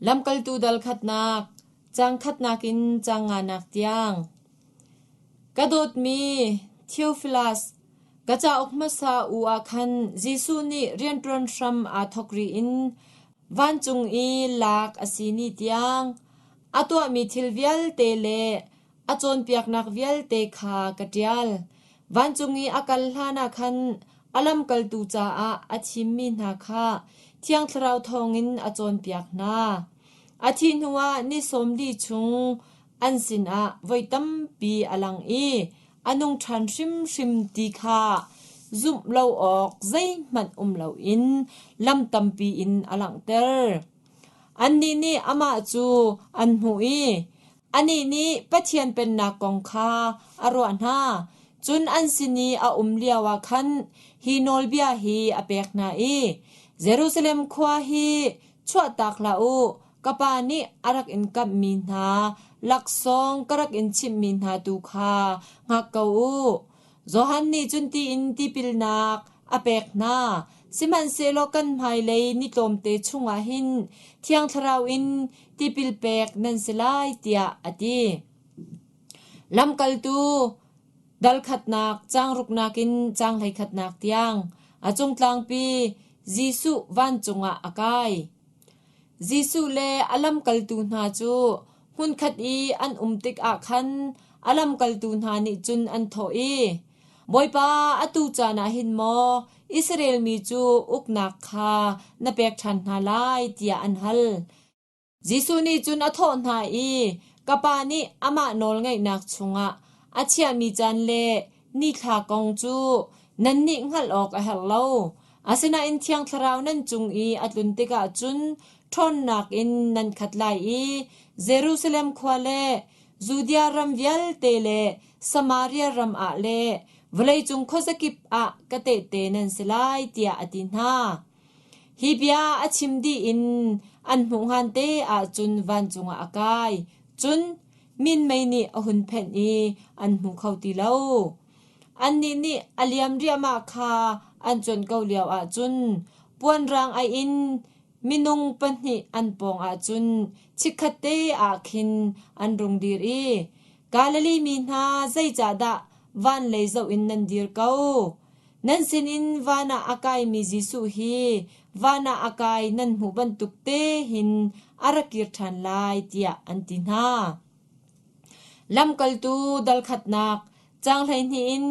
Lamkaltu dal khatnak, caang khatnak in caang nganak tiang. Ka dawtmi Theophilus, ka cauk hmasa u ah khan Jesuh nih rianṭuan hram aa thawk rih in vancung i lak a si ni tiang, a tuahmi thil vialte le A cawnpiaknak vialte kha ka ṭial. Vancung i a kal hlanah khan a lamkaltu caah a thimmi hna kha Thiang Thlarau thawngin a cawnpiak hna. A thih hnuah ni sawm li chung an sinah voi tampi a lang i a nung ṭhan hrimhrim ti kha zumh lo awk zeihmanh um loin lam tampi in a langhter. Annih nih amah cu an hmuh i, Anih nih Pathian Pennak kong kha a ruah hna, cun an sin i a um lioah khan hi nawlbia hi a pek hna i, “Jerusalem khua hi chuahtak hlah u, ka Pa nih a rak in kamhmi hna laksawng ka rak in chimhmi hna tu kha hngak ko u. Johan nih cun tiin tipilnak a pek hna, sihmanhsehlaw kan hmailei ni tlawmte chungah hin Thiang Thlarau in tipil pek nan si lai, tiah a ti. Lamkaltu dalkhatnak changruknak in caang hleikhatnak tiang a cung tlangpi Jesuh vancung ah a kai. Jesuh le a lamkaltu hna cu hmunkhat i an um tikah khan a lamkaltu hna nih cun an thawh i, “Bawipa, atu caan ah hin maw Israel mi cu uknak kha na pek ṭhan hna lai?” tiah an hal. Jesuh nih cun a thawh hna i, “Ka Pa nih amah nawl ngaihnak chungah a chiahmi caan le Nithla kong cu nannih hngalh awk a herh lo. Asinain Thiang Thlarau nan cung i a tlun tikah cun ṭhawnnak in nan khat lai i Jerusalem khua le Judea ram vialte le Samaria ram ah le vawleicung khuazakip ah ka tehte nan si lai, tiah a ti hna. Hi bia a chim dih in an hmuhhngan te ahcun vancung ah a kai, cun minmei nih a hun phenh i an hmu kho ti lo. Annih nih a liam riahmah kha an cuanh ko lio ahcun puanrang aih in minung pahnih an pawng ahcun chikkhat te ah khin an rung dir i, “Galilee mi hna, zeicahdah van lei zoh in nan dir ko? Nan sinin van ah a kaimi Jesuh hi van ah a kai nan hmuh bantuk te hin a ra kir ṭhan lai tiah an ti hna. Lamkaltu dalkhatnak caang hleihnih in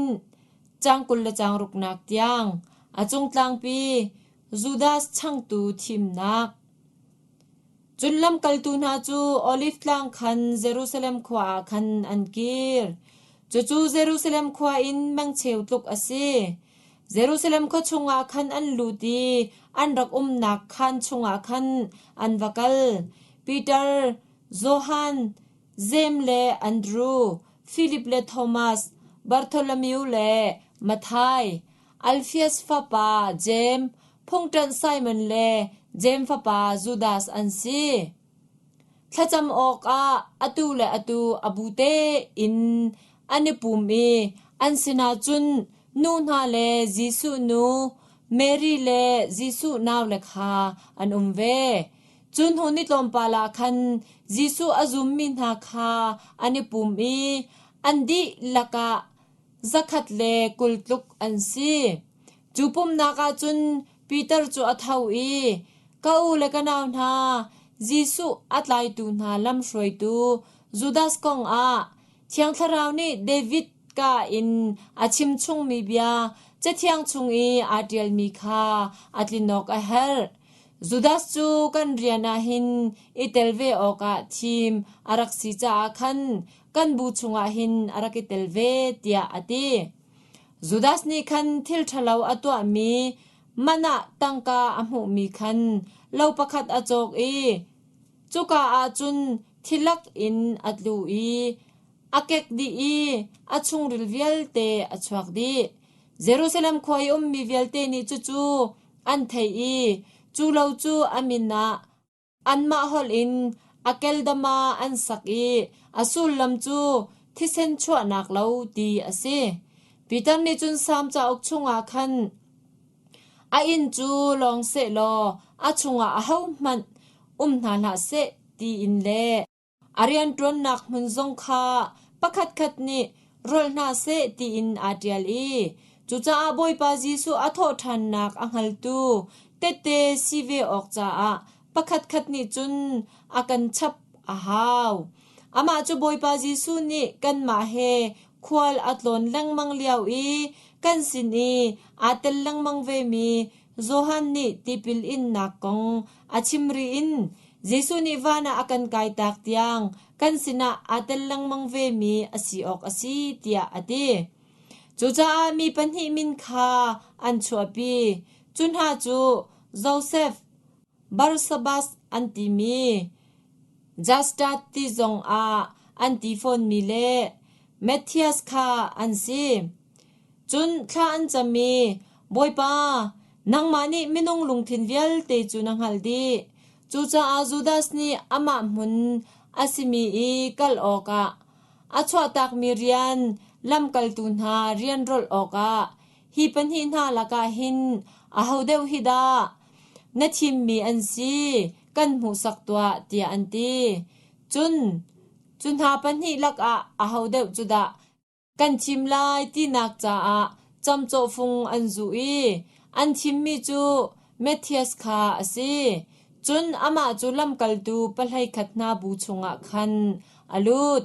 caang kul le caang ruknak tiang a cung tlangpi Judas changtu thimnak Cun lamkaltu hna cu Oliv Tlang khan Jerusalem khua ah khan an kir. Cucu Jerusalem khua in mengcheu tluk a si. Jerusalem khua chungah khan an lut i an rak umnak khaan chungah khan an va kal. Piter, Johan, Jeim le Andru, Filip le Thomas, Bartholomew le Mathai, Alfias fapa Jeim, phungṭanh Simon le Jeim fapa Judas an si. Thlacam awkah atu le atu a bu tein an i pum i an sinah cun nu hna le Jesuh nu, Mary le Jesuh naule kha an um ve. Cun hmun i tlawmpal ah khan Jesuh a zummi hna kha an i pum i an dihlak ah Zakhat le kul tluk an si. Cu pumhnak ah cun Piter cu a tho i, “Ka u le ka nau hna, Jesuh a tlaitu hna lamhruaitu Judas kong ah Thiang Thlarau nih David kaa in a chimchungmi bia Cathiang chung i aa ṭialmi kha a tlin awk a herh. Judas cu kan rian ah hin i tel ve awkah thim a rak si caah khan kan bu chungah hin a rak i tel ve tiah a ti. Judas nih khan thil ṭhalo a tuahmi manah tangka a hmuhmi khan lo pakhat a cawk i cuka ah cun thilak in a tlu i a kek dih i a chungril vialte a chuak dih. Jerusalem khua i ummi vialte nih cucu an theih i cu lo cu a min ah Anmah holh in a keldama an sak i a sullam cu thisen chuahnak lo ti a si. Piter nih cun Salm cauk chungah khan a inn cu lawng sehlaw a chungah ahohmanh um hna hlah seh tiin le A rianṭuannak hmun zong kha pakhatkhat nih rol hna seh tiin aa ṭial i cucaah Bawipa Jesuh a thawhṭhannak a hngaltu tehte si ve awk caah pakhatkhat nih cun a kan chap a hau. Amah cu Bawipa Jesuh nih kanmah he khual a tlawn lengmang lio i kan sin i aa tel lengmang vemi Johan nih tipil innak kong a chim rih in Jesuh nih van ah a kan kaitak tiang kan sinah aa tel lengmang vemi a si awk a si tiah a ti. Cucaah mi pahnih min kha an chuahpi. Cu hna cu Josef, Barsabas an timi, Justa ti zongah an ti fawnmi le Matthias kha an si. Cun thla an cam i, Bawipa, nangmah nih minung lungthin vialte cu na hngalh dih. Cucaah Judas nih amah hmun a simi i kal awkah a chuahtakmi rian lamkaltu hna rian rolh awkah Hi pahnih hna lakah hin aho deuh hi dah na thimmi an si kan hmuhsak tuah tiah an ti. Cun cu hna pahnih lakah aho deuh cu dah kan thim lai tinak caah camcawhfung an zuh i an thimmi cu Matthias kha a si. Cun amah cu lamkaltu pahlei khat hna bu chungah khan a lut.